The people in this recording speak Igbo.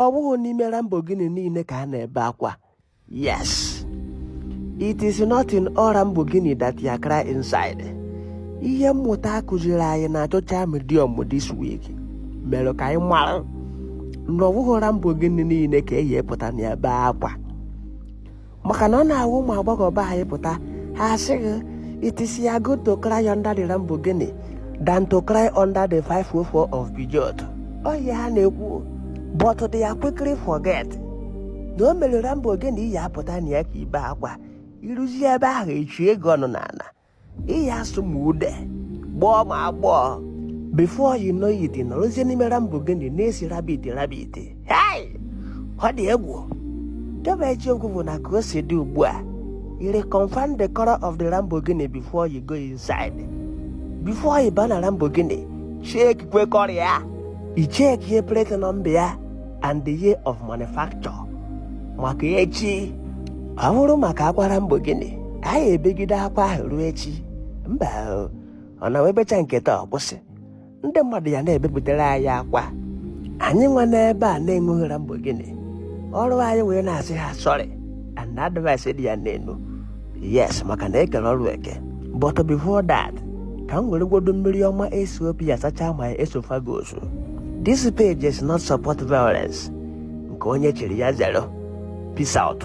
ọ wụghị n'ime Lamborghini niile ka a na-ebe akwa yes it is not in all Lamborghini that ya cry inside ihe mmụta akụziri anyị na social medium this week mere ka anyị mara na ọ wụghị Lamborghini niile ka eyi epụta na-ebe akwa maka na ọ na-awụ ụmụ agbọghọ be anyị pụta ha asị gị it is ya good to cry under the Lamborghini than to cry under the 504 of Peugeot ọ ihe ha na-ekwu but they are quickly forget na o nwere Lamborghini ị ya-apụta na ya ka i bee akwa i ruzie ebe ahụ e chie gị ọnụ n'ala ị ya-asụ ma ude gbọọ ma agbọọ before you know it ị nọrọzie n'ime Lamborghini na-esi rabbit rabbit hei ọ dị egwu debe eziokwu bụ na ka o si dị ugbu a ị reconfirm the color of the Lamborghini before you go inside before you bana Lamborghini checkikwa color ya ị checkie plate number ya and the year of manufacture maka echi ọ bụrụ maka akwa Lamborghini anyị ebegide akwa ahụ ruo echi mba o, ọ na-awụ e bechaa nke taa ọ kwụsị ndị mmadụ ya na-ebepụtara anyị akwa anyị nwa n'ebe a na-enweghị Lamborghini ọrụ anyị wee na-asị ha sorry and advice dị ya n'elu yes maka na e kere ọrụ eke but before that ka m weregwodo mmiri ọma Ethiopia sachaa my esophagus this page is not support violence nke onye chiri ya zere o peace out